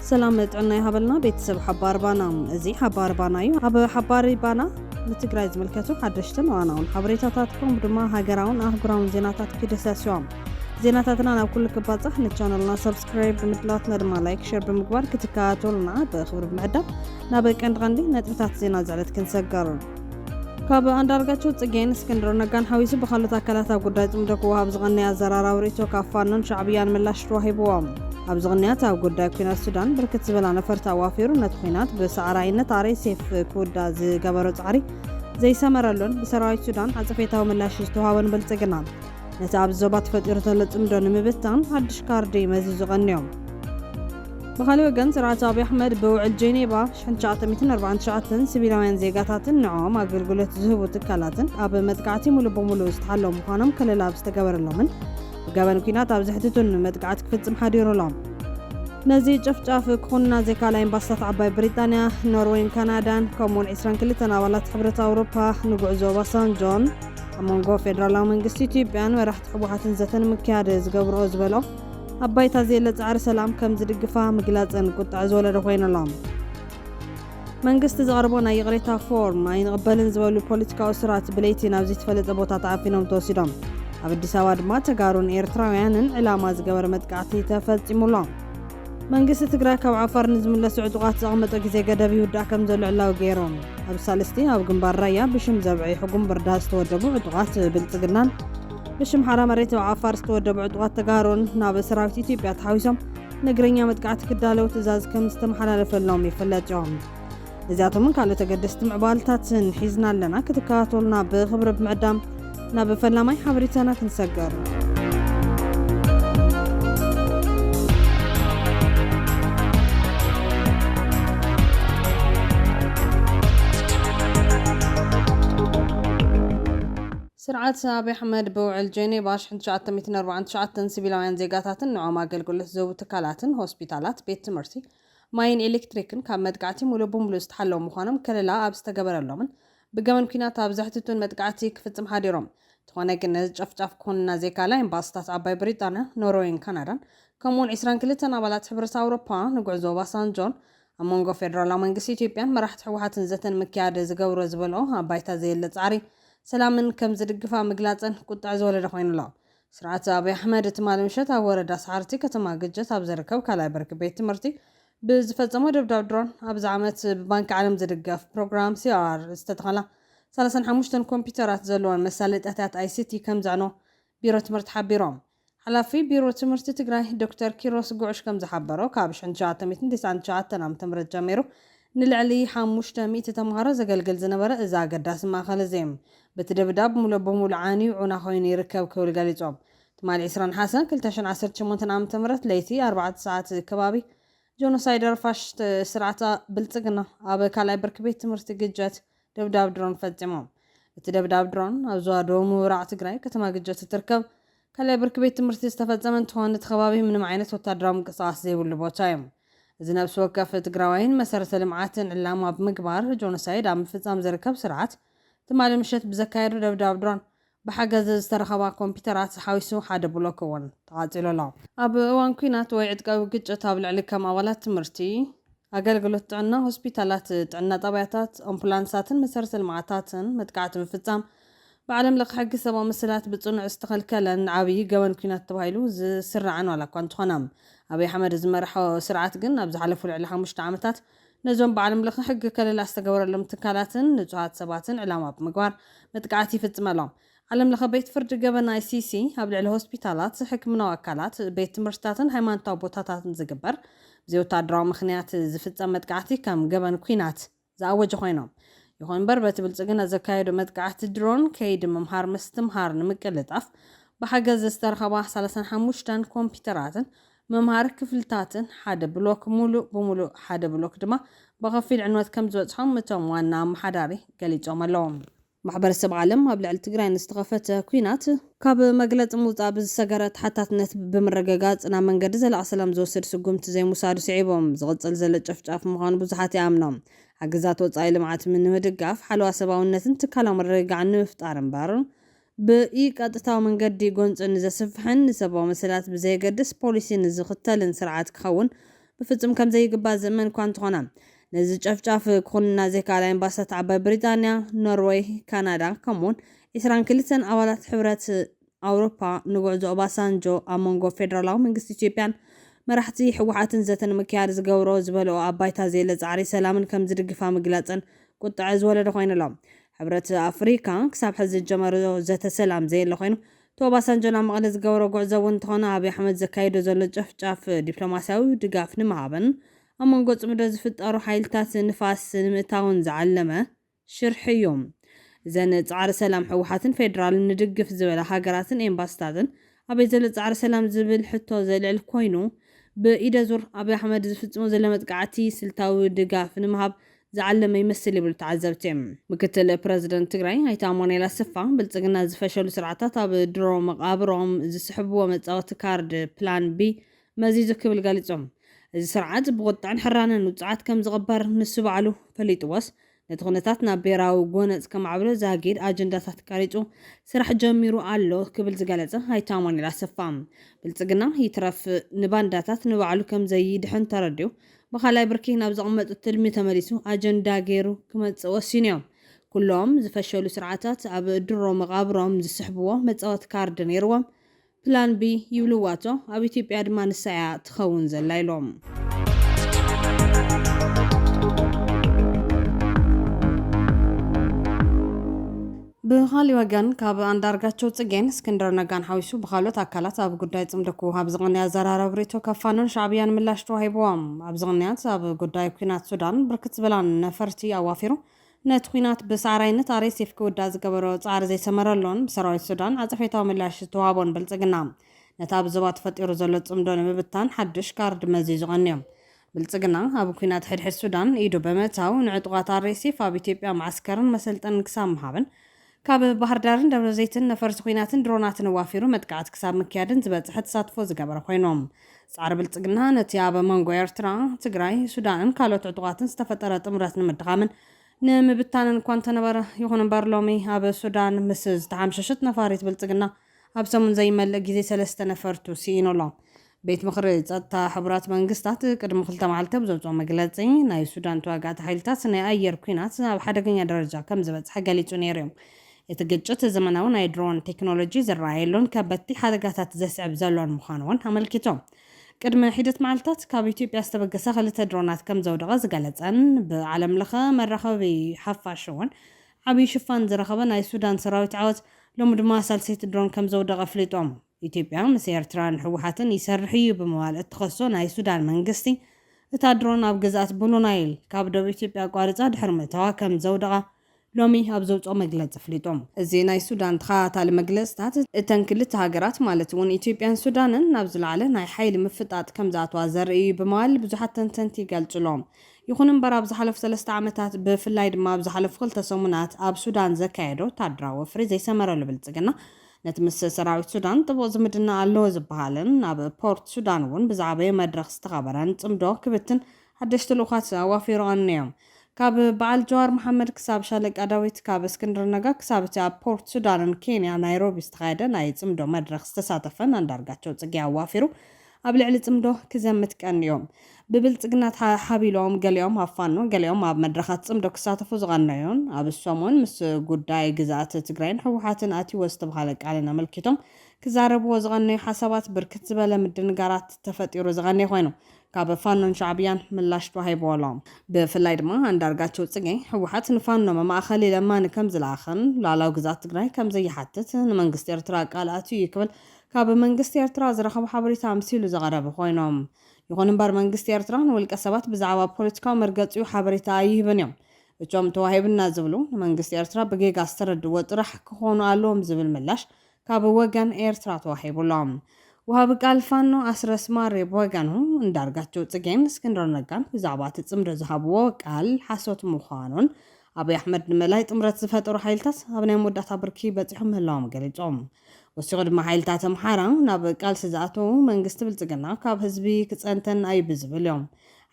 ሰላም ጥዕና ይሃበልና ቤተሰብ ሓባር ባና እዚ ሓባር ባና እዩ ኣብ ሓባር ባና ንትግራይ ዝምልከቱ ሓደሽትን ዋናውን ሓበሬታታት ከምኡ ድማ ሃገራውን ኣህጉራውን ዜናታት ክደሳስዮም ዜናታትና ናብ ኩሉ ክባፃሕ ንቻነልና ሰብስ ሳብስክራይብ ብምድላትና ድማ ላይክ ሸር ብምግባር ክትከታተሉና ብክብሪ ብምዕዳም ናብ ቀንዲ ቀንዲ ነጥብታት ዜና ዝዕለት ክንሰገር ካብ ኣንዳርጋቸው ፅጌን እስክንድሮ ነጋን ሓዊሱ ብካልኦት ኣካላት ኣብ ጉዳይ ፅምዶ ክወሃብ ዝቐነየ ኣዘራራዊ ርእቶ ካብ ፋኖን ሻዕብያን ምላሽ ተዋሂብዎም ኣብዚ ቕንያት ኣብ ጉዳይ ኩናት ሱዳን ብርክት ዝበላ ነፈርቲ ኣዋፊሩ ነቲ ኩናት ብሰዕራይነት ኣረይ ሴፍ ክውዳ ዝገበሮ ፃዕሪ ዘይሰመረሉን ብሰራዊት ሱዳን ዓፀፌታዊ ምላሽ ዝተዋሃበን ብልፅግና ነቲ ኣብዚ ዞባ ተፈጢሩ ዘሎ ጽምዶ ንምብታን ሓድሽ ካርዲ መዚዙ ቀንዮም። ብኻልእ ወገን ስርዓት ኣብዪ ኣሕመድ ብውዕል ጄኔቫ 1949 ሲቪላውያን ዜጋታትን ንዕኦም ኣገልግሎት ዝህቡ ትካላትን ኣብ መጥቃዕቲ ሙሉእ ብሙሉእ ዝተሓለዉ ምዃኖም ከለላ ኣብ ዝተገበረሎምን ብገበን ኩናት ኣብ ዘሕትቱን መጥቃዕቲ ክፍጽም ሓዲሩ ኣሎ። ነዚ ጨፍጫፍ ክኹንና ዘይካላ ኤምባሲታት ዓባይ ብሪጣንያ፣ ኖርወይን ካናዳን ከምኡውን 22 ኣባላት ሕብረት ኣውሮፓ ንጉዕዞ ኦባሳንጆን ኣብ መንጎ ፌደራላዊ መንግስቲ ኢትዮጵያን መራሕቲ ህወሓትን ዘተ ንምክያድ ዝገብርኦ ዝበልኦ ኣብ ባይታ ዘየለ ጻዕሪ ሰላም ከም ዝድግፋ ምግላጸን ቁጥዐ ዝወለደ ኮይኑ ኣሎ። መንግስቲ ዘቕረቦ ናይ ይቕሬታ ፎርም ኣይንቕበልን ዝበሉ ፖለቲካዊ እሱራት ብለይቲ ናብ ዘይተፈለጠ ቦታ ተዓፊኖም ተወሲዶም። ኣብ ኣዲስ ኣበባ ድማ ተጋሩን ኤርትራውያንን ዕላማ ዝገበረ መጥቃዕቲ ተፈጺሙሎም። መንግስቲ ትግራይ ካብ ዓፋር ንዝምለሱ ዕጡቓት ዘቐመጦ ግዜ ገደብ ይውዳእ ከም ዘሎ ዕላዊ ገይሮም። ኣብ ሳልስቲ ኣብ ግንባር ራያ ብሽም ዘብዐ ሕጉም ብርዳ ዝተወደቡ ዕጡቓት ብልጽግናን ብሽም ሓራ መሬት ኣብ ዓፋር ዝተወደቡ ዕጡቓት ተጋሩን ናብ ሰራዊት ኢትዮጵያ ተሓዊሶም ንእግረኛ መጥቃዕቲ ክዳለው ትእዛዝ ከም ዝተመሓላለፈሎም ይፍለጥ እዮም። እዚኣቶምን ካልኦት ኣገደስቲ ምዕባልታትን ሒዝና ኣለና ክትከታተሉና ብኽብሪ ብምዕዳም ናብ ፈላማይ ሓበሬታና ክንሰገር ስርዓት ኣብዪ ኣሕመድ ብውዕል ጀኔቫ 1949 ሲቪላውያን ዜጋታትን ንዖም ኣገልግሎት ዝህቡ ትካላትን ሆስፒታላት፣ ቤት ትምህርቲ፣ ማይን ኤሌክትሪክን ካብ መጥቃዕቲ ሙሉእ ብሙሉእ ዝተሓለዉ ምዃኖም ከለላ ኣብ ዝተገበረሎምን ብገበን ኲናት ኣብ ዘሕትቱን መጥቃዕቲ ክፍጽም ሓዲሮም። እንተኾነ ግን ነዚ ጨፍጫፍ ክኹንና ዘይከኣላ ኤምባስታት ዓባይ ብሪጣንያ፣ ኖርወይን ካናዳን ከምኡ'ውን ዕስራን ክልተን ኣባላት ሕብረት ኣውሮፓ ንጉዕዞ ኦባሳንጆን ኣብ መንጎ ፌደራላዊ መንግስቲ ኢትዮጵያን መራሕቲ ህወሓትን ዘተ ንምክያድ ዝገብርኦ ዝበልኦ ኣብ ባይታ ዘየለ ጻዕሪ ሰላምን ከምዝድግፋ ምግላጸን ቁጥዐ ዝወለደ ኮይኑ ኣሎ። ስርዓት ኣብይ ኣሕመድ ትማሊ ምሸት ኣብ ወረዳ ሰዓርቲ ከተማ ግጭት ኣብ ዝርከብ ካልኣይ ብርኪ ቤት ትምህርቲ ብዝፈፀሞ ደብዳብ ድሮን ኣብዚ ዓመት ብባንኪ ዓለም ዝድገፍ ፕሮግራም CRR ዝተተኸላ ሰላሳን ሓሙሽተን ኮምፒዩተራት ዘለወን መሳለጥያታት ኣይሲቲ ከምዘዕነው ቢሮ ትምህርቲ ሓቢሮም። ሓላፊ ቢሮ ትምህርቲ ትግራይ ዶክተር ኪሮስ ጉዕሽ ከምዝሓበሮ ካብ ሽሕን ትሽዓተ ሚእትን ቴስዓን ትሽዓተን ዓመተ ምህረት ጀሚሩ ንልዕሊ ሓሙሽተ ሚእቲ ተምሃሮ ዘገልግል ዝነበረ እዚ ኣገዳሲ ማእኸል እዚ በቲ ደብዳብ ሙሉእ ብሙሉእ ዓንዩ ዑና ኮይኑ ይርከብ ክብል ገሊፆም። ትማሊ ዕስራ ነሓሰ ክልተ ሽሕን ዓሰርተ ሸሞንተን ዓመተ ምህረት ለይቲ ኣርባዕተ ሰዓት ከባቢ ጆኖሳይደር ፋሽስት ስርዓት ብልፅግና ኣብ ካልኣይ ብርኪ ቤት ትምህርቲ ግጀት ደብዳብ ድሮን ፈፂሞም። እቲ ደብዳብ ድሮን ኣብ ዞባ ደቡብ ምብራቅ ትግራይ ከተማ ግጀት እትርከብ ካልኣይ ብርኪ ቤት ትምህርቲ ዝተፈፀመ እንትኾን እቲ ከባቢ ምንም ዓይነት ወታደራዊ ምንቅስቃስ ዘይብሉ ቦታ እዩ። እዚ ነብሲ ወከፍ ትግራዋይን መሰረተ ልምዓትን ዕላማ ብምግባር ጆኖሳይድ ኣብ ምፍፃም ዝርከብ ስርዓት ትማሊ ምሸት ብዘካየዱ ደብዳብ ድሮን ብሓገዝ ዝተረኸባ ኮምፒተራት ዝሓዊሱ ሓደ ብሎክ እውን ተቓፂሉ ኣሎ። ኣብ እዋን ኲናት ወይ ዕጥቃዊ ግጭት ኣብ ልዕሊ ከም ኣባላት ትምህርቲ፣ ኣገልግሎት ጥዕና፣ ሆስፒታላት፣ ጥዕና ጣብያታት፣ ኣምፑላንሳትን መሰረተ ልምዓታትን መጥቃዕቲ ምፍፃም ብዓለም ለኸ ሕጊ ሰብኣዊ መሰላት ብፅኑዕ ዝተኸልከለን ዓብዪ ገበን ኲናት ተባሂሉ ዝስራዕን ዋላ እኳ እንተኾነ ኣብይ ኣሕመድ ዝመርሖ ስርዓት ግን ኣብ ዝሓለፉ ልዕሊ ሓሙሽተ ዓመታት ነዞም ብዓለም ለኸ ሕጊ ከለላ ዝተገበረሎም ትካላትን ንፁሃት ሰባትን ዕላማ ብምግባር መጥቃዕቲ ይፍፅመሎም። ዓለም ለኸ ቤት ፍርዲ ገበን፣ ICC፣ ኣብ ልዕሊ ሆስፒታላት፣ ሕክምናዊ ኣካላት፣ ቤት ትምህርትታትን ሃይማኖታዊ ቦታታትን ዝግበር ብዘይወታደራዊ ምኽንያት ዝፍፀም መጥቃዕቲ ከም ገበን ኲናት ዝኣወጀ ኮይኖም ይኹን እምበር በቲ ብልፅግና ዘካየዶ መጥቃዕቲ ድሮን ከይዲ ምምሃር ምስትምሃር ንምቅልጣፍ ብሓገዝ ዝተረኸባ ሰላሳን ሓሙሽተን ኮምፒተራትን ምምሃር ክፍልታትን ሓደ ብሎክ ሙሉእ ብሙሉእ ሓደ ብሎክ ድማ ብኸፊል ዕንወት ከምዝበፅሖም እቶም ዋና ኣመሓዳሪ ገሊፆም ኣለው። ማሕበረሰብ ዓለም ኣብ ልዕሊ ትግራይ ንዝተኸፈተ ኲናት፣ ካብ መግለፂ ምውፃእ ብዝሰገረ ተሓታትነት ብምርግጋፅ ናብ መንገዲ ዘላቒ ሰላም ዝወስድ ስጉምቲ ዘይምውሳዱ ስዒቡ ዝቕፅል ዘሎ ጨፍጫፍ ምዃኑ ብዙሓት ይኣምኑ። ሓገዛት ወፃኢ ልምዓት ንምድጋፍ፣ ሓለዋ ሰብኣዊነትን ትካላዊ ምርግጋዕን ንምፍጣር እምበር ብኢ-ቀጥታዊ መንገዲ ጎንፂ ንዘስፍሕን ንሰብኣዊ መሰላት ብዘየገድስ ፖሊሲ ንዝኽተልን ስርዓት ክኸውን ብፍፁም ከምዘይግባእ ዝእመን እኳ እንተኾነ ነዚ ጨፍጫፍ ክኹንና ዘይከኣላ ኤምባሲታት ዓባይ ብሪጣንያ፣ ኖርወይ፣ ካናዳ ከምኡ'ውን ዕስራን ክልተን ኣባላት ሕብረት ኣውሮፓ ንጉዕዞ ኦባሳንጆ ኣብ መንጎ ፌደራላዊ መንግስቲ ኢትዮጵያን መራሕቲ ህወሓትን ዘተ ንምክያድ ዝገብሮ ዝበልኦ ኣብ ባይታ ዘየለ ፃዕሪ ሰላምን ከምዝድግፋ ምግላፀን ቁጠዐ ዝወለደ ኮይኑ'ሎ። ሕብረት ኣፍሪካ ክሳብ ሕዚ ዝጀመሮ ዘተ ሰላም ዘየለ ኮይኑ፣ እቲ ኦባሳንጆ ናብ መቐለ ዝገበሮ ጉዕዞ እውን እንተኾነ ኣብይ ኣሕመድ ዘካይዶ ዘሎ ጨፍጫፍ ዲፕሎማሲያዊ ድጋፍ ንምሃብን ኣብ መንጎ ፅምዶ ዝፍጠሩ ሓይልታት ንፋስ ንምእታውን ዝዓለመ ሽርሒ እዩ። እዘን ፃዕሪ ሰላም ህወሓትን ፌዴራልን ንድግፍ ዝበላ ሃገራትን ኤምባሲታትን ኣበይ ዘሎ ጻዕሪ ሰላም ዝብል ሕቶ ዘልዕል ኮይኑ፣ ብኢደ ዙር ኣብይ ኣሕመድ ዝፍጽሞ ዘሎ መጥቃዕቲ ስልታዊ ድጋፍ ንምሃብ ዝዓለመ ይመስል ይብሉ ተዓዘብቲ። ምክትል ፕረዚደንት ትግራይ ኣይተ ኣማኑኤል ኣሰፋ፣ ብልጽግና ዝፈሸሉ ስርዓታት ኣብ ድሮ መቓብሮም ዝስሕብዎ መጻወቲ ካርድ፣ ፕላን ቢ፣ መዚዙ ክብል ገሊጹ። እዚ ስርዓት ብቑጥዐን ሕራነን ውጹዓት ከም ዝቕበር ንሱ ባዕሉ ፈሊጥዎስ ነቲ ኩነታት ናብ ብሄራዊ ጎነጽ ከማዕብሎ ዛጊድ ኣጀንዳታት ቀሪጹ ስራሕ ጀሚሩ ኣሎ ክብል ዝገለጸ ኣይተ ኣማኑኤል ኣሰፋ፣ ብልጽግና ይትረፍ ንባንዳታት ንባዕሉ ከምዘይድሕን ተረዲኡ ብካልኣይ ብርኪ ናብ ዘቕመጦ ትልሚ ተመሊሱ ኣጀንዳ ገይሩ ክመጽእ ወሲኑዮ። ኩሎም ዝፈሸሉ ስርዓታት ኣብ ድሮ መቓብሮም ዝስሕብዎ መጻወቲ ካርድ ነይርዎም ፕላን ቢ ይብልዋ እቶ ኣብ ኢትዮጵያ ድማ ንሳ እያ ትኸውን ዘላ ኢሎም። ብኻሊእ ወገን ካብ ኣንዳርጋቸው ፅጌን እስክንድር ነጋን ሓዊሱ ብኻልኦት ኣካላት ኣብ ጉዳይ ፅምዶ ክወሃብ ዝቕንየ ኣዘራረብ ሪኢቶ ካብ ፋኖን ሻዕብያን ምላሽ ተዋሂብዎም። ኣብዚ ቅንያት ኣብ ጉዳይ ኲናት ሱዳን ብርክት ዝበላ ነፈርቲ ኣዋፊሩ ነቲ ኲናት ብሰዓራይነት ኣርኤስኤፍ ክውዳእ ዝገበሮ ጻዕሪ ዘይሰመረሉን ብሰራዊት ሱዳን ዓጸፌታዊ ምላሽ ዝተዋህቦን ብልጽግና፣ ነቲ ኣብ ዞባ ተፈጢሩ ዘሎ ጽምዶ ንምብታን ሓድሽ ካርድ መዚዙ ቀንዩ። ብልጽግና፣ ኣብ ኲናት ሕድሕድ ሱዳን ኢዱ ብምእታው፣ ንዕጡቓት ኣርኤስኤፍ ኣብ ኢትዮጵያ መዓስከርን መሰልጠንን ክሳብ ምሃብን፣ ካብ ባህርዳርን ደብረዘይትን ነፈርቲ ኹናትን ድሮናትን ኣዋፊሩ መጥቃዕቲ ክሳብ ምክያድን ዝበፀሐ ተሳትፎ ዝገበረ ኾይኑ ፃዕሪ ብልፅግና ነቲ ኣብ መንጎ ኤርትራ፣ ትግራይ፣ ሱዳንን ካልኦት ዕጡቓትን ዝተፈጠረ ጥምረት ንምድኻምን ንምብታንን እኳ እንተነበረ ይኹን እምበር ሎሚ ኣብ ሱዳን ምስ ዝተሓምሸሸት ነፋሪት ብልፅግና ኣብ ሰሙን ዘይመልእ ግዜ ሰለስተ ነፈርቱ ስኢኑ ኣሎ። ቤት ምኽሪ ጸጥታ ሕቡራት መንግስታት ቅድሚ ክልተ መዓልቲ ኣብ ዘውጽኦ መግለጺ፣ ናይ ሱዳን ተዋጋእቲ ሓይልታት ናይ ኣየር ኲናት ናብ ሓደገኛ ደረጃ ከም ዝበጽሐ ገሊጹ ነይሩ'ዩ። እቲ ግጭት ዘመናዊ ናይ ድሮን ቴክኖሎጂ ዝረኣየሉን ከበድቲ ሓደጋታት ዘስዕብ ዘሎን ምዃኑ'ውን ኣመልኪቱ። ቅድሚ ሒደት መዓልታት ካብ ኢትዮጵያ ዝተበገሳ ክልተ ድሮናት ከም ዘውደቐ ዝገለጸን ብዓለምለኸ መራኸቢ ሓፋሽ'ውን ዓብዪ ሽፋን ዝረኸበ ናይ ሱዳን ሰራዊት ዓወት ሎሚ ድማ ሳልሰይቲ ድሮን ከምዘውደቐ ኣፍሊጦም። ኢትዮጵያ ምስ ኤርትራን ህወሓትን ይሰርሕ እዩ ብምባል እትኸሶ ናይ ሱዳን መንግስቲ፣ እታ ድሮን ኣብ ግዝኣት ብሉ ናይል ካብ ደቡብ ኢትዮጵያ ኣቋሪፃ ድሕሪ ምእታዋ ከምዘውደቓ ሎሚ ኣብ ዘውፅኦ መግለፂ ኣፍሊጡ። እዚ ናይ ሱዳን ተኸታታሊ መግለፅታት እተን ክልተ ሃገራት ማለት እውን ኢትዮጵያን ሱዳንን ናብ ዝለዓለ ናይ ሓይሊ ምፍጣጥ ከምዝኣትዋ ዘርኢ እዩ ብምባል ብዙሓት ተንተንቲ ይገልፅሎም። ይኹን እምበር ኣብ ዝሓለፉ ሰለስተ ዓመታት ብፍላይ ድማ ኣብ ዝሓለፉ ክልተ ሰሙናት ኣብ ሱዳን ዘካየዶ ወታደራዊ ወፍሪ ዘይሰመረሉ ብልጽግና ነቲ ምስ ሰራዊት ሱዳን ጥቡቕ ዝምድና ኣለዎ ዝበሃልን ኣብ ፖርት ሱዳን እውን ብዝዓበየ መድረኽ ዝተኸበረን ጽምዶ ክብትን ሓደሽቲ ልኡኻት ኣዋፊሩ ኣንዮም። ካብ በዓል ጀዋር መሓመድ ክሳብ ሻለቃ ዳዊት፣ ካብ እስክንድር ነጋ ክሳብ እቲ ኣብ ፖርት ሱዳንን ኬንያ ናይሮቢ ዝተኻየደ ናይ ጽምዶ መድረኽ ዝተሳተፈን ኣንዳርጋቸው ጽጌ ኣዋፊሩ ኣብ ልዕሊ ጽምዶ ክዘምት ቀንዩ። ብብልጽግና ተሓቢሎም ገሊኦም ኣብ ፋኖ ገሊኦም ኣብ መድረኻት ጽምዶ ክሳተፉ ዝቐነዩን ኣብዚ ሰሙን ምስ ጉዳይ ግዝኣተ ትግራይን ህወሓትን ኣትዩዎ ዝተብሃለ ቃልን ኣመልኪቶም ክዛረብዎ ዝቐነዩ ሓሳባት ብርክት ዝበለ ምድንጋራት ተፈጢሩ ዝቐነየ ኮይኑ ካብ ፋኖን ሻዕብያን ምላሽ ተዋሂብዎ ኣሎ። ብፍላይ ድማ ኣንዳርጋቸው ጽጌ ህወሓት ንፋኖ መማእኸሊ ለማኒ ከምዝለኣኸን ሉኣላዊ ግዝኣት ትግራይ ከምዘይሓትት ንመንግስቲ ኤርትራ ቃል ኣትዩ እዩ ክብል ካብ መንግስቲ ኤርትራ ዝረኸቦ ሓበሬታ ኣምሲሉ ዘቐረበ ኮይኑ። ይኹን እምበር መንግስቲ ኤርትራ ንውልቀ ሰባት ብዛዕባ ፖለቲካዊ መርገጺኡ ሓበሬታ ኣይህብን እዮም። እቶም ተዋሂቡና ዝብሉ ንመንግስቲ ኤርትራ ብጌጋ ዝተረድእዎ ጥራሕ ክኾኑ ኣለዎም ዝብል ምላሽ ካብ ወገን ኤርትራ ተዋሂቡ ኣሎ። ወሃቢ ቃል ፋኖ ኣስረስ ማሬ ብወገኑ እንዳርጋቸው ጽጌን እስክንድር ነጋን ብዛዕባ እቲ ጽምዶ ዝሃብዎ ቃል ሓሶት ምዃኑን ኣብይ ኣሕመድ ንምእላይ ጥምረት ዝፈጠሩ ሓይልታት ኣብ ናይ መወዳእታ ብርኪ በፂሖም ምህላዎም ገሊፆም። ወሲኹ ድማ ሓይልታት ኣምሓራ ናብ ቃልሲ ዝኣተዉ መንግስቲ ብልፅግና ካብ ህዝቢ ክፀንተን ኣዩ ብዝብል ዮም።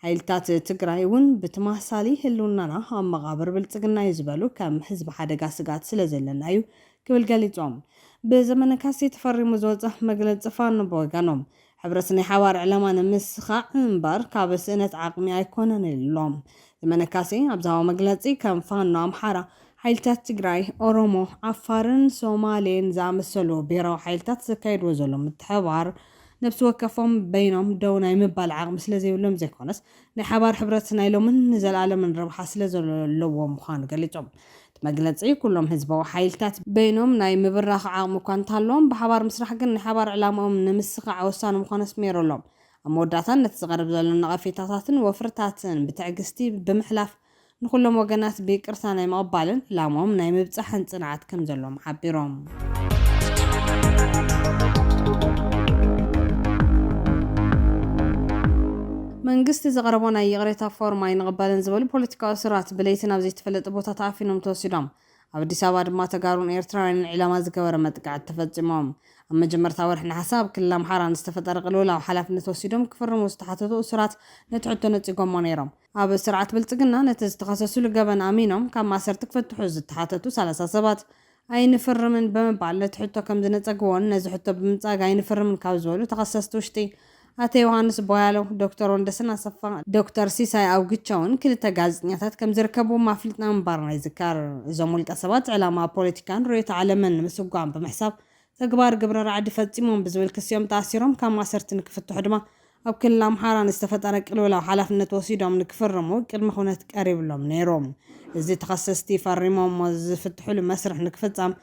ሓይልታት ትግራይ ውን ብትማሳሊ ህልውናና ኣብ መቓብር ብልፅግና ዩ ዝበሉ ከም ህዝቢ ሓደጋ ስግኣት ስለዘለና ዩ ክብል ገሊፆም። ብዘመነ ካሴ ተፈሪሙ ዝወፀ መግለፂ ፋኖ ብወገኖም ሕብረት ናይ ሓባር ዕላማ ንምስኻዕ እምበር ካብ ስእነት ዓቕሚ ኣይኮነን ኢሉ። ዘመነ ካሴ ኣብ ዝሃቦ መግለጺ፣ ከም ፋኖ ኣምሓራ፣ ሓይልታት ትግራይ፣ ኦሮሞ፣ ዓፋርን ሶማሌን ዝኣመሰሉ ብሄራዊ ሓይልታት ዘካይድዎ ዘሎ ምትሕብባር ነብሲ ወከፎም በይኖም ደው ናይ ምባል ዓቕሚ ስለዘይብሎም ዘይኮነስ ናይ ሓባር ሕብረት ናይ ሎምን ንዘልኣለምን ረብሓ ስለ ዘለዎ ምዃኑ ገሊጾም። እቲ መግለጺ፣ ኩሎም ህዝባዊ ሓይልታት በይኖም ናይ ምብራኽ ዓቕሚ እኳ እንተሃለዎም፣ ብሓባር ምስራሕ ግን ንሓባር ዕላማኦም ንምስኻዕ ወሳኒ ምዃኑ ኣስሚሩሎም። ኣብ መወዳእታ፣ ነቲ ዝቐርብ ዘሎ ነቐፌታታትን ወፍርታትን ብትዕግስቲ ብምሕላፍ፣ ንኹሎም ወገናት ብይቅርታ ናይ ምቕባልን ላሞም ናይ ምብጻሕን ጽንዓት ከም ዘሎዎም ሓቢሮም። መንግስቲ ዘቕረቦ ናይ ይቕሬታ ፎርም ኣይንቕበልን ዝበሉ ፖለቲካዊ እሱራት ብለይቲ ናብ ዘይተፈለጠ ቦታ ተኣፊኖም ተወሲዶም። ኣብ ኣዲስ ኣበባ ድማ ተጋሩን ኤርትራውያንን ዒላማ ዝገበረ መጥቃዕቲ ተፈጺሞም። ኣብ መጀመርታ ወርሒ ነሓሰ ኣብ ክልል ኣምሓራ ንዝተፈጠረ ቅልውላው ሓላፍነት ወሲዶም ክፍርሙ ዝተሓተቱ እሱራት ነቲ ሕቶ ነጺጎሞ ነይሮም። ኣብ ስርዓት ብልፅግና ነቲ ዝተኸሰስሉ ገበን ኣሚኖም ካብ ማእሰርቲ ክፍትሑ ዝተሓተቱ ሰላሳ ሰባት ኣይንፍርምን ብምባል ነቲ ሕቶ ከምዝነፀግዎን ነዚ ሕቶ ብምንፃግ ኣይንፍርምን ካብ ዝበሉ ተኸሰስቲ ውሽጢ ኣቶ ዮሃንስ ቧያለው፣ ዶክተር ወንደሰን ኣሰፋ፣ ዶክተር ሲሳይ ኣውግቸውን ክልተ ጋዜጠኛታት ከምዝርከብዎም ኣፍሊጥና ምንባርና ይዝከር። እዞም ውልቀሰባት ዕላማ ፖለቲካን ርዕዮተ ዓለምን ንምስጓም ብምሕሳብ ተግባር ግብረ ራዕዲ ፈፂሞም ብዝብል ክሲ እዮም ተኣሲሮም። ካብ ማእሰርቲ ንክፍትሑ ድማ ኣብ ክልል ኣምሓራ ንዝተፈጠረ ቅልውላው ሓላፍነት ወሲዶም ንክፍርሙ ቅድመ ኹነት ቀሪብሎም ነይሩ። እዚ ተኸሰስቲ ፈሪሞሞ ዝፍትሕሉ መስርሕ ንክፍፀም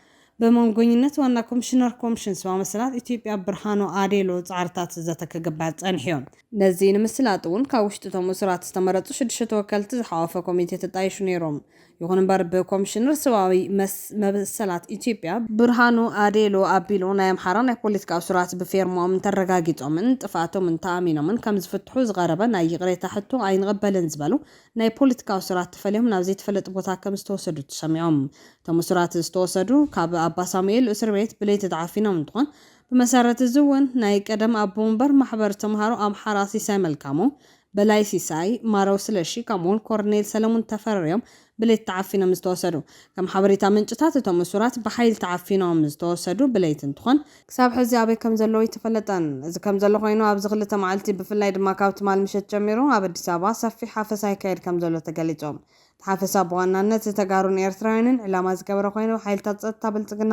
ብመንጎኝነት ዋና ኮምሽነር ኮምሽን ሰባዊ መሰላት ኢትዮጵያ ብርሃኑ ኣዴሎ ፃዕርታት ዘተ ክግበር ፀኒሑ እዩ። ነዚ ንምስላጥ እውን ካብ ውሽጢ እቶም እሱራት ዝተመረፁ ሽዱሽተ ተወከልቲ ዝሓቖፈ ኮሚቴ ተጣይሹ ነይሩ። ይኹን እምበር ብኮምሽነር ሰብኣዊ መሰላት ኢትዮጵያ ብርሃኑ ኣዴሎ ኣቢሉ ናይ ኣምሓራ ናይ ፖለቲካ እሱራት ብፌርምኦም እንተረጋጊፆምን ጥፍኣቶምን ተኣሚኖምን ከምዝፍትሑ ዝቐረበ ናይ ይቕሬታ ሕቶ ኣይንቕበልን ዝበሉ ናይ ፖለቲካ እሱራት ተፈልዮም ናብ ዘይተፈለጥ ቦታ ከምዝተወሰዱ ተሰሚዖም። እቶም እሱራት ዝተወሰዱ ካብ ኣባሳሙኤል እሱርቤት ብለይቲ ተዓፊኖም እንትኾን ብመሰረት እዚ እውን ናይ ቀደም ኣቦ ወንበር ማሕበር ተምሃሮ ኣምሓራ ሲሳይ መልካሙ በላይ ሲሳይ፣ ማረው ስለሺ ከምኡ'ውን ኮርኔል ሰለሙን ተፈሪ'ዮም ብለይቲ ተዓፊኖም ዝተወሰዱ። ከም ሓበሬታ ምንጭታት እቶም እሱራት ብሓይሊ ተዓፊኖም ዝተወሰዱ ብለይቲ እንትኾን፣ ክሳብ ሕዚ ኣበይ ከም ዘለዉ ኣይተፈለጠን። እዚ ከም ዘሎ ኮይኑ ኣብዚ ክልተ መዓልቲ ብፍላይ ድማ ካብ ትማል ምሸት ጀሚሩ ኣብ ኣዲስ ኣበባ ሰፊሕ ሓፈሳ ይካየድ ከም ዘሎ ተገሊፁ። እቲ ሓፈሳ ብዋናነት ንተጋሩን ኤርትራውያንን ዕላማ ዝገበረ ኮይኑ ብሓይልታት ፀጥታ ብልፅግና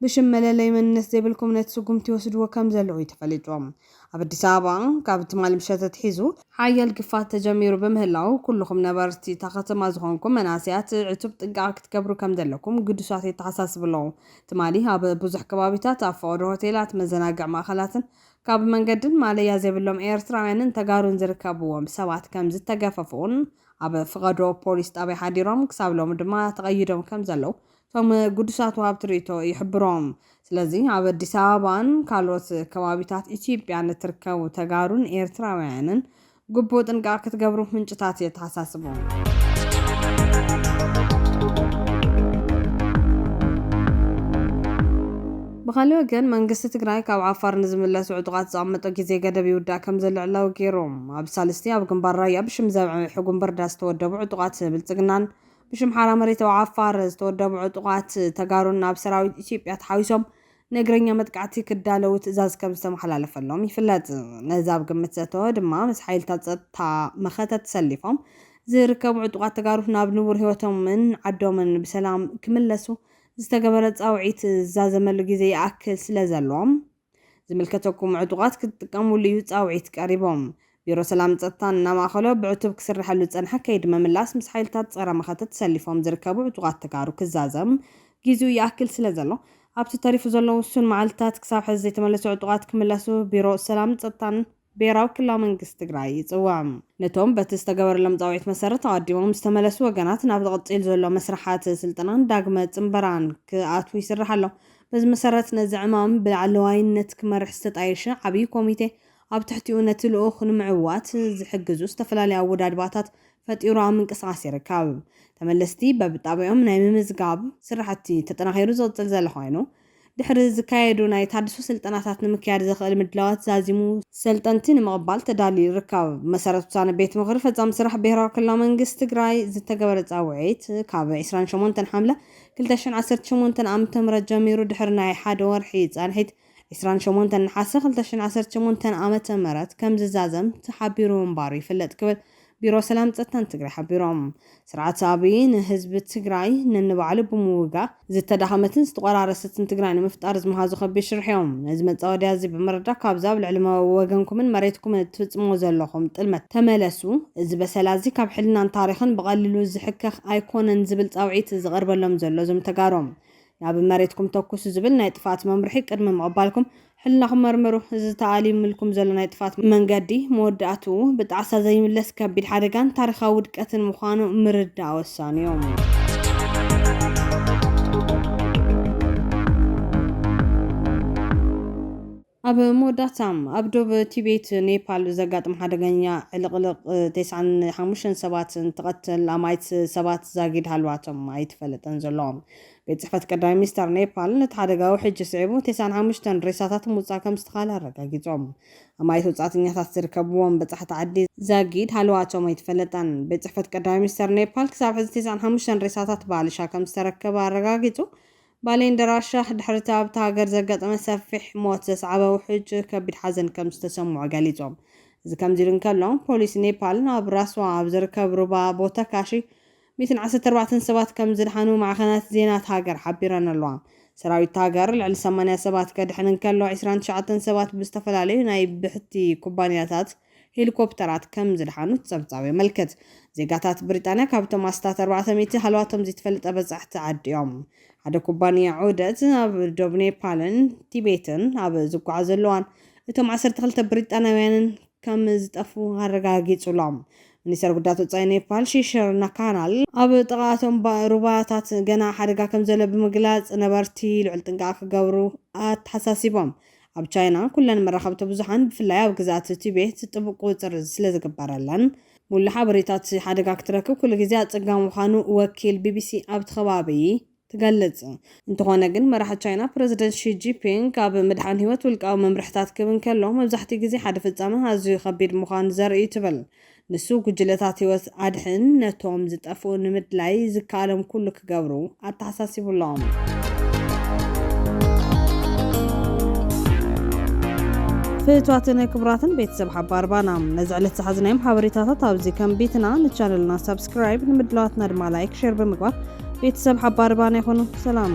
ብሽም መለለዪ መንነት ዘይብልኩም ነቲ ስጉምቲ ይወስድዎ ከምዘለዉ እዩ ተፈሊጡ። ኣብ ኣዲስ ኣበባ ካብ ትማሊ ምሸት ኣትሒዙ፣ ሓያል ግፋት ተጀሚሩ ብምህላዉ ኩሉኹም ነበርቲ እታ ከተማ ዝኾንኩም መናእሰያት ዕቱብ ጥንቃቐ ክትገብሩ ከምዘለኩም ግዱሳት የተሓሳስቡ ኣለዉ። ትማሊ ኣብ ብዙሕ ከባቢታት ኣብ ፈቐዶ ሆቴላት፣ መዘናግዒ ማእኸላትን ካብ መንገድን ማለያ ዘይብሎም ኤርትራውያንን ተጋሩን ዝርከብዎም ሰባት ከምዝተገፈፉን ኣብ ፍቐዶ ፖሊስ ጣብያ ሓዲሮም ክሳብ ሎሚ ድማ ተቐይዶም ከምዘለዉ እቶም ግዱሳት ወሃብቲ ርእይቶ ይሕብሩ። ስለዚ ኣብ ኣዲስ ኣበባን ካልኦት ከባቢታት ኢትዮጵያን እትርከቡ ተጋሩን ኤርትራውያንን ግቡእ ጥንቃቐ ክትገብሩ ምንጭታት የተሓሳስቡ። ብኻልእ ወገን መንግስቲ ትግራይ ካብ ዓፋር ንዝምለሱ ዕጡቓት ዘቐመጦ ግዜ ገደብ ይውዳእ ከምዘሎ ዕላዊ ገይሩ። ኣብ ሳልስቲ ኣብ ግንባር ራያ ብሽም ዘብዐ ሕጉምበርዳ ዝተወደቡ ዕጡቓት ብልፅግናን ብሽም ሓራ መሬታዊ ዓፋር ዝተወደቡ ዕጡቓት ተጋሩን ናብ ሰራዊት ኢትዮጵያ ተሓዊሶም ንእግረኛ መጥቃዕቲ ክዳለዉ ትእዛዝ ከም ዝተመሓላለፈሎም ይፍለጥ። ነዚ ኣብ ግምት ዘእተወ ድማ ምስ ሓይልታት ፀጥታ መኸተ ተሰሊፎም ዝርከቡ ዕጡቓት ተጋሩ ናብ ንቡር ህይወቶምን ዓዶምን ብሰላም ክምለሱ ዝተገበረ ፃውዒት ዝዛዘመሉ ግዜ ይኣክል ስለዘሎ ዝምልከተኩም ዕጡቓት ክትጥቀሙሉ እዩ ፃውዒት ቀሪቡ። ቢሮ ሰላምን ፀጥታን እናማእኸሎ ብዕቱብ ክስረሐሉ ዝፀንሐ ከይዲ ምምላስ ምስ ሓይልታት ፀረ መኸተ ተሰሊፎም ዝርከቡ ዕጡቓት ተጋሩ ክዛዘም ጊዚኡ ይኣክል ስለዘሎ ኣብቲ ተሪፉ ዘሎ ውሱን መዓልትታት ክሳብ ሐዚ ዘይተመለሱ ዕጡቓት ክምለሱ ቢሮ ሰላምን ፀጥታን ብሄራዊ ክልላዊ መንግስቲ ትግራይ ይፅውዕ። ነቶም በቲ ዝተገበረሎም ፃውዒት መሰረት ኣቐዲሞም ዝተመለሱ ወገናት ናብ ዝቕፂል ዘሎ መስርሓት ስልጠናን ዳግመ ፅምበራን ክኣትዉ ይስራሕ ኣሎ። በዚ መሰረት ነዚ ዕማም ብላዕለዋይነት ክመርሕ ዝተጣየሸ ዓብዪ ኮሚቴ ኣብ ትሕቲኡ ነቲ ልኡኽ ንምዕዋት ዝሕግዙ ዝተፈላለዩ ኣወዳድባታት ፈጢሩ ኣብ ምንቅስቓስ ይርከብ። ተመለስቲ በብጣብያኦም ናይ ምምዝጋብ ስራሕቲ ተጠናኺሩ ዝቕፅል ዘሎ ኮይኑ፣ ድሕሪ ዝካየዱ ናይ ታድሶ ስልጠናታት ንምክያድ ዘኽእል ምድላዋት ዛዚሙ ሰልጠንቲ ንምቕባል ተዳልዩ ይርከብ። ብመሰረት ውሳነ ቤት ምኽሪ ፈፃሚ ስራሕ ብሄራዊ ክልላዊ መንግስቲ ትግራይ ዝተገበረ ፃውዒት ካብ ዕስራን ሸሞንተን ሓምለ ክልተ ሽሕን ዓሰርተ ሸሞንተን ዓ.ም ጀሚሩ ድሕሪ ናይ ሓደ ወርሒ ፃንሒት ዕስራን ሸሞንተን ነሓሰ ክልተ ሽሕን ዓሰርተ ሸሞንተን ዓ.ም ከምዝዛዘም ተሓቢሩ ምንባሩ ይፍለጥ ክብል ቢሮ ሰላም ፀጥታን ትግራይ ሓቢሮም። ስርዓት ኣብይ ንህዝቢ ትግራይ ነንባዕሉ ብምውጋእ ዝተዳኸመትን ዝተቖራረሰትን ትግራይ ንምፍጣር ዝመሃዞ ከቢድ ሽርሒ ዩ። ነዚ መፃወድያ እዚ ብምርዳእ ካብዚ ኣብ ልዕሊ ወገንኩምን መሬትኩምን እትፍፅምዎ ዘለኹም ጥልመት ተመለሱ። እዚ በሰላ እዚ ካብ ሕልናን ታሪኽን ብቐሊሉ ዝሕከኽ ኣይኮነን ዝብል ፃውዒት ዝቐርበሎም ዘሎ እዞም ተጋሩ ናብ መሬትኩም ተኩሱ ዝብል ናይ ጥፍኣት መምርሒ ቅድሚ ምቕባልኩም ሕልናኹም መርምሩ። እዚ ተኣሊምልኩም ዘሎ ናይ ጥፍኣት መንገዲ መወዳእትኡ ብጣዕሳ ዘይምለስ ከቢድ ሓደጋን ታሪኻዊ ውድቀትን ምዃኑ ምርዳእ ወሳኒ'ዩ። ኣብ መወዳእታ፣ ኣብ ዶብ ቲቤት፣ ኔፓል፣ ዘጋጥም ሓደገኛ ዕልቕልቕ ቴስዓን ሓሙሽተን ሰባት እንትቐትል፣ ኣማኢት ሰባት ዛጊድ ሃለዋቶም ኣይተፈለጠን ዘሎ። ቤት ጽሕፈት ቀዳማይ ሚኒስተር ኔፓል፣ ነቲ ሓደጋ ውሕጅ ስዒቡ ቴስዓን ሓሙሽተን ሬሳታት ምውጻእ ከምዝተኻእለ ኣረጋጊጾም። ኣማኢት ወጻእተኛታት ዝርከብዎም በጻሕቲ ዓዲ፣ ዛጊድ ሃለዋቶም ኣይተፈለጠን። ቤት ጽሕፈት ቀዳማይ ሚኒስተር ኔፓል ክሳብ ሕዚ ቴስዓን ሓሙሽተን ሬሳታት ብኣልሻ ከምዝተረከበ ኣረጋጊጹ፣ ባሌንደራስ ሻህ ድሕሪ'ቲ ኣብታ ሃገር ዘጋጠመ ሰፊሕ ሞት ዘስዓበ ውሕጅ ከቢድ ሓዘን ከም ዝተሰምዖ ገሊጾም። እዚ ከምዚ ኢሉ እንከሎ፣ ፖሊስ ኔፓል ኣብ ራስዋ ኣብ ዝርከብ ሩባ ቦተካሺ ሚእትን ዓሰርተ ኣርባዕተን ሰባት ከም ዝደሓኑ ማዕኸናት ዜና እታ ሃገር ሓቢረን ኣለዋ። ሰራዊት እታ ሃገር ልዕሊ ሰማንያ ሰባት ከድሕን እንከሎ፣ ዕስራን ትሽዓተን ሰባት ብዝተፈላለዩ ናይ ብሕቲ ኩባንያታት ሄሊኮፕተራት ከም ዝደሓኑ እቲ ጸብጻብ የመልክት። ዜጋታት ብሪጣንያ ካብቶም ኣስታት ኣርባዕተ ሚእቲ ሃለዋቶም ዘይተፈለጠ በጻሕቲ ዓዲ እዮም። ሓደ ኩባንያ ዑደት ኣብ ዶብ ኔፓልን ቲቤትን ኣብ ዝጓዓዘሉ እዋን እቶም ዓሰርተ ክልተ ብሪጣንያውያንን ከም ዝጠፍኡ ኣረጋጊጹ ኣሎ። ሚኒስተር ጉዳያት ወጻኢ ኔፓል ሺሽር ናካናል ኣብ ጥቓ እቶም ሩባታት ገና ሓደጋ ከም ዘሎ ብምግላጽ ነበርቲ ልዑል ጥንቃቐ ክገብሩ ኣተሓሳሲቦም። ኣብ ቻይና ኩለን መራኸብቲ ብዙሓን ብፍላይ ኣብ ግዝኣት ቲቤት ጥቡቅ ቁፅፅር ስለዝግበረለን ሙሉእ ሓበሬታ እቲ ሓደጋ ክትረክብ ኩሉ ግዜ ኣፀጋሚ ምዃኑ ወኪል ቢቢሲ ኣብቲ ከባቢ ትገልፅ። እንተኾነ ግን መራሒ ቻይና ፕረዚደንት ሺ ጂፒንግ ኣብ ምድሓን ህይወት ውልቃዊ መምርሕታት ክህብ እንከሎ መብዛሕቲኡ ግዜ ሓደ ፍፃመ ኣዝዩ ከቢድ ምዃኑ ዘርኢ እዩ ትብል። ንሱ ጉጅለታት ህይወት ኣድሕን ነቶም ዝጠፍኡ ንምድላይ ዝከኣሎም ኩሉ ክገብሩ ኣተሓሳሲቡ'ሎ። ፍትዋትን ክብራትን ቤተሰብ ሓባር ባና ነዚ ዕለት ዝሓዝናዮም ሓበሬታታት ኣብዚ ከም ቤትና ንቻነልና ሳብስክራይብ ንምድላዋትና ድማ ላይክ ሼር ብምግባር ቤተሰብ ሓባር ባና ይኹኑ ሰላም